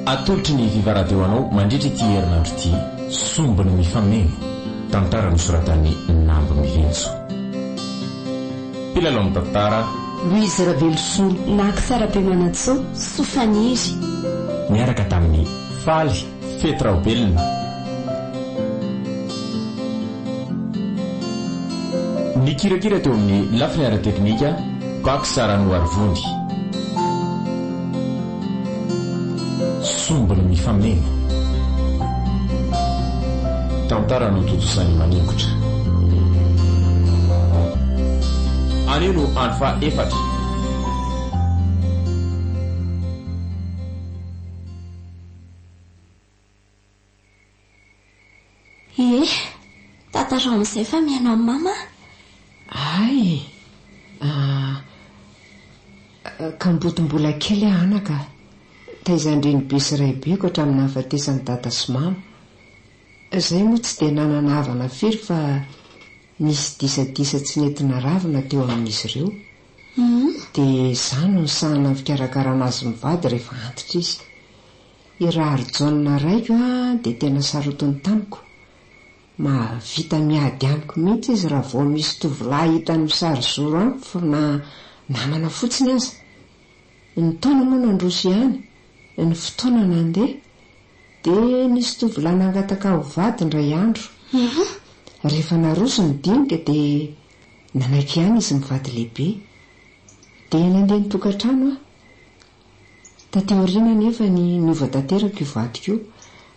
Atolotry ny Viva Radio anao mandritra ity herinandro ity, Sombiny mifameno, tantara nosoratan'i Nambo Mihinjo. Mpilalao ny tantara. Louise Raveloson. Max Rabemanantsoa, Soa Faniry. Niaraka tamin'i Faly. Fety Raobelina. Nikirakira teo amin'ny lafiny ara-teknika Baksa Ranoarivony. Sombiny mifameno. Tantara notontosain'i Maningotra. Anio no andro faha efatra. Ie, tantarao amin'izay fa mihaino an'i Mama aho. Hay e! Ahh. Kamboty mbola kely aho anaka a! Taizan-drenibe sy raibeko hatramin'ny nahafatesan'i Dada sy Mama. Izahay moa tsy dia nanana havana firy fa Nisy disadisa tsy nety naravina teo amin'izy ireo, dia izaho no nisahana ny fikarakarana azy mivady rehefa antitra izy. I Raharijaona raiko dia tena sarotiny tamiko. Mahavita miady amiko mihitsy izy raha vao misy tovolahy hitany misarizoro amiko na namana fotsiny aza. Ny taona moa nandroso ihany, ny fotoana nandeha Dia nisy tovolahy nangataka ho vady indray andro. Rehefa naroso ny dinika dia nanaiky ihany izy mivady lehibe. Dia nandeha nitokantrano aho. Taty aoriana anefa ny niova tanteraka io vadiko io.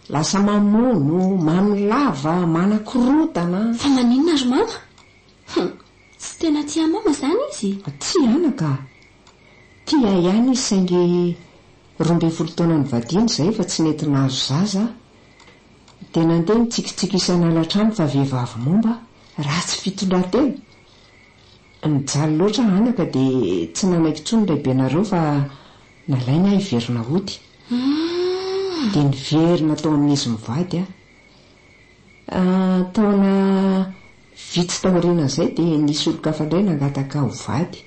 Lasa mamono, mamy lava, manakorontana. Fa maninona ry mama? Tsy tena tia mama izany izy? Tsia anaka. Tia ihany izy saingy roa ambin'ny folo taona nivadiana izay fa tsy nety nahazo zaza aho. Dia nandeha nitsikitsiky isan'alatrano fa vehivavy momba, ratsy fitondran-tena. Nijaly loatra anaka dia tsy nanaiky intsony ny lehibenareo fa nalainy aho hiverina hody. Dia niverina tao amin'izy mivady aho. Taona vitsy taorianan'izay dia nisy olon-kafa indray nangataka ho vady.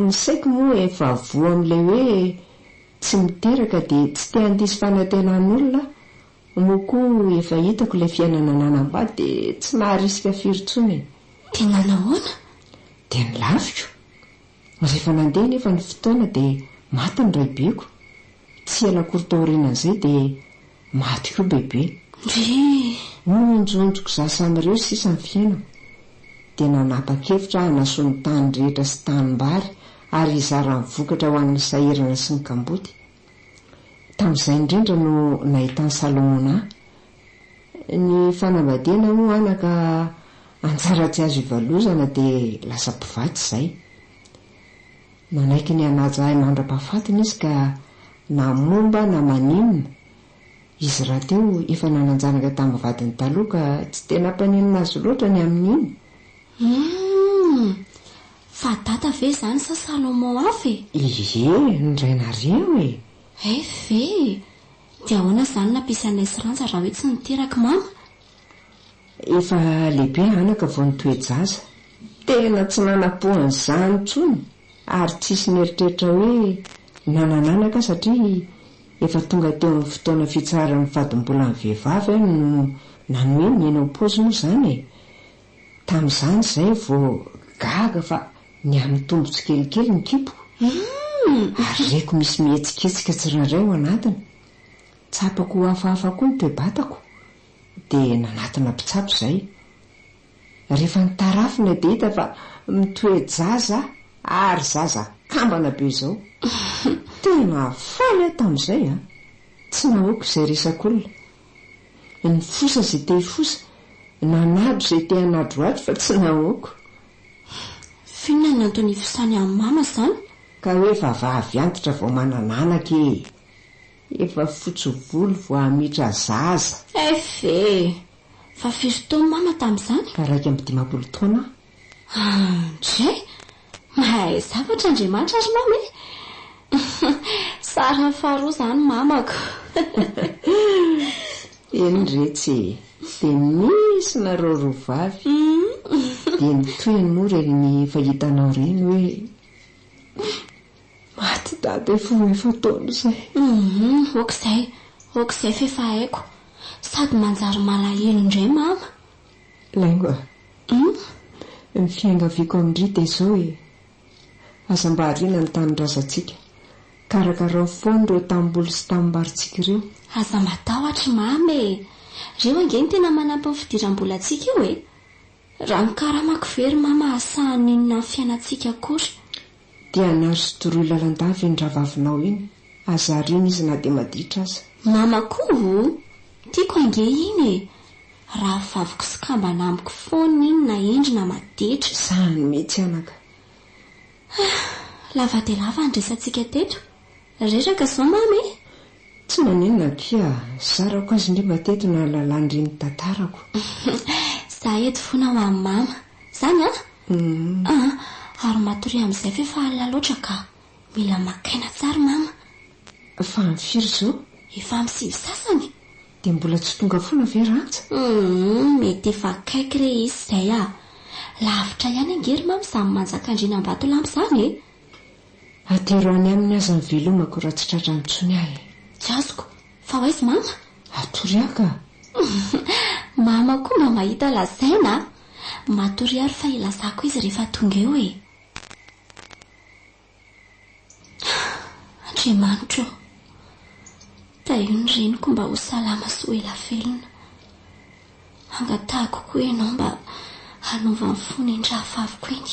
Ny saiko moa efa voa amin'ilay hoe tsy miteraka dia tsy te handiso fanantenan'olona aho, moa koa efa hitako ilay fiainana nanambady dia tsy maharisika firy intsony e. Dia nanahoana? Dia nilaviko. Rehefa nandeha anefa ny fotoana dia maty ny raibeko. Tsy ela akory taorianan'izay dia Maty koa bebe. Ndrii! Nohonjonjoko za samireo sisa ny fiainako dia nanapa-kevitra aho hanasoa ny tany rehetra sy tanimbary ary hizara ny vokatra ho an'ny sahirana sy ny kamboty. Tamin'izay indrindra no nahitan'i Salomona ahy. Ny fanambadiana hono anaka anjara tsy azo ivalozana dia lasa mpivatsy izay. Nanaiky ny hanaja ahy mandra-pahafatiny izy ka na momba na maninona, izy rahateo efa nanan-janaka tamin'ny vadiny taloha ka tsy dia nampaninona azy loatra ny amin'iny. Humm! Fa dada ve izany sa Salomon hafa e? Ie, ny rainareo e! Ev, Dia ahoana izany nampisy anay sy Randja raha hoe tsy niteraka i Mama? Efa lehibe anaka vao nitoe-jaza. Tena tsy nanampo an'izany intsony ary tsisy nieritreritra hoe nanana anaka aho satria efa tonga teo amin'ny fotoana fitsaharan'ny fadim-bolan'ny vehivavy aho no nanoe ny eny am-paosy moa izany e! Tamin'izany izay vao gaga fa nihamitombo tsikelikely ny kiboko ary reko misy mihetsiketsika tsirairay ao anatiny. Tsapako ho hafahafa koa ny toe-batako dia nanatona mpitsabo izay. Rehefa nitarafina dia hita fa mitoe-jaza ary zaza kambana be izao. Tena faly aho tamin'izay an! Tsy nahoako izay resak'olona. Nifosa izay te hifosa, nanadro izay te hanadro ato fa tsy nahoako. F'inona ny antony ifosany an'i Mama izany? Ka hoe vavavy antitra vao manana anaka e! Efa fotsy volo vao hamitra zaza. Eff e! Fa firy taona mama tamin'izany? Valo iraika amby dimampolo taona aho. Andray! Mahay zavatra Andriamanitra ry mama e! Sarany faharoa izany mamako. Eny retsy e! Dia misy nareo roa vavy. Dia ny tohiny moa ireny efa hitanao ireny hoe. Maty dada vao efa taona izay. Humm ok zay ok izay f'efa haiko. Sady manjary malahelo indray mama. Laingo a. Humm. Ny fiangaviako amin-dry dia izao e. Aza mba ariana ny tanindrazantsika. Karakarao foana ireo tanimboly sy tanimbarintsika ireo. Aza matahotra mama e. Ireo ange no tena manampy ny fidiram-bolantsika io e. Raha ny karamako ve ry mama asaha ninona ny fiainantsika akory. Dia anaro sy doroy lalandava iny ravavinao iny, aza ariana izy na dia maditra aza. Mama koa oh! Tiako ange iny e! Rahavaviko sy kambana amiko foana iny na hendry na maditra. Zany mihitsy anaka. Ah! Lava dia lava ny resatsika teto. Reraka izao mama e! Tsy maninona akia, zarako azy ndry mba teto nahalalany ndry ny tantarako. Za eto fona ho an'i mama. Zany an? Hum. Ah, ary matoria amin'izay ve fa alina loatra ka. Mila maka aina tsara mama. Fa amin'ny firy izao? Efa amin'ny sivy sasany. Dia mbola tsy tonga fona ve Rantsa? Hum, mety efa akaiky re izy izay ah. Lavitra ihany ange ry mama izany manjakandriana Ambatolampy izany e. Atero any aminy aza ny velomako raha tsy tratra intsony aho e! Tsy azoko! Fa ho aiza mama? Hatoria ka! Mama koa mba mahita lazaina a! Matoria ary fa hilazako izy rehefa tonga eo e! Andriamanitra o! Tahio ny reniko mba ho salama sy ho ela velona. Angatahiko koa ianao mba hanova ny fony ny rahavaviko iny.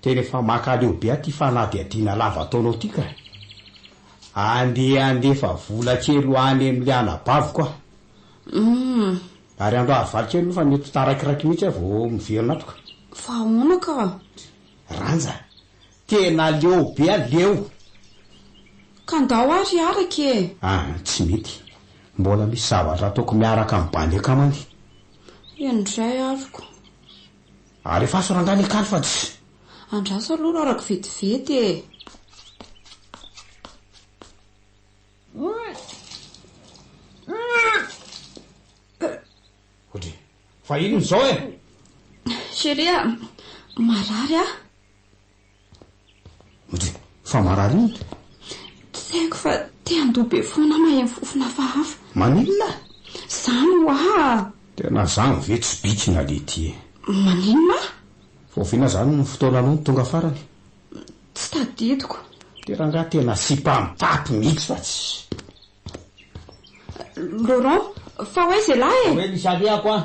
Tena efa makaleo be aty fanadihadiana lava ataonao ty ka! Andeha handefa vola kely ho any amin'ilay anabaviko aho. Humm. Ary andao harivaly kely aloha fa mety ho taraikiraiky mihitsy aho vao miverina ato ka. Fa ahoana ka? Ranja, tena leo be a! Leo! Ka ndao ary hiaraka e! Ah, tsy mety. Mbola misy zavatra ataoko miaraka amin'ny bandy akamany. Eny indray aroko. Alefaso rangahy le kalo fa tsy. Andraso aloha rara ko vetivety e. Odry. Fa inona izao e? Chérie a! Marary aho. Ojery, fa marary inona? Tsy haiko fa te handoa be foana aho maheno fofona hafahafa. Maninona? Zany hoa! Tena zany ve tsy bikina Letty e! Maninona? Voaviana zany ny fotoana aloha no tonga farany. Tsy tadidiko. De rangaha tena sipa mitaty mihitsy fa tsy. Laurent, fa ho aiza ialahy e! Fa hoe misy alehako an!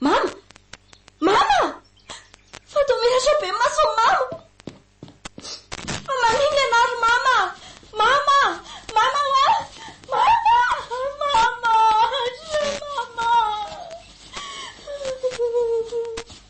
Mama! Mama! Fa toa miratra be ny mason'i Mama! Fa maninona ianao ry Mama? Mama! Mama hoa! Mama! Mama! Mama!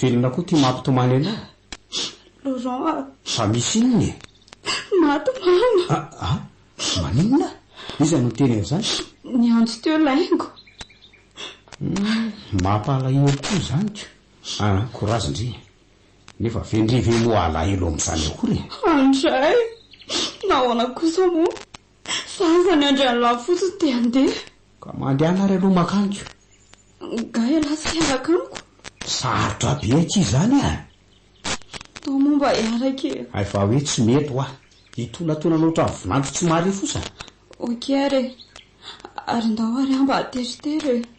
Velona koa ty mampitomany anao. Laurent a! Fa misy inona e? Maty mama! A! A! Maninona? Iza no niteny an'izany? Niantso teo laingo. Hum! Mampalahelo koa izany ko! A! Courage ndry! Nefa ve ndry ve moa alahelo amin'izany akory e? Andray! Nahoana kosa moa? Fa afa ny andriany lahy fotsiny dia handeha. Ka mandehana ary aloha mankany ko. Nga ialahy tsy hiaraka amiko? Sarotra be akia izany a! Atao moa mba hiaraka e! Hay fa hoe tsy mety hoa. Hitonatonana ohatran'ny vinanto tsy mahare fosa. Ok ary e! Ary ndao ary aho mba hateritery e!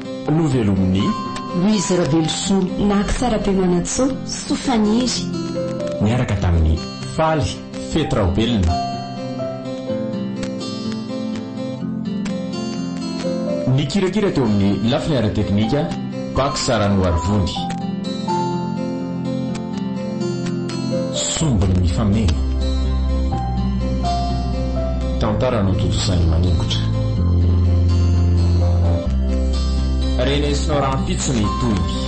Novelomin'i. Louise Ravelosoa Nacc Tsarapiemanantsoa soa faniry. Niaraka tamin'ny faly fety Raobelina. Nikirakira teo amin'ny lafiny ara-teknika Pax Saranoarivoly. Sombiny mifameno. Tantara notontosainy maningotra. Renesinao rahampitso ny tohiny.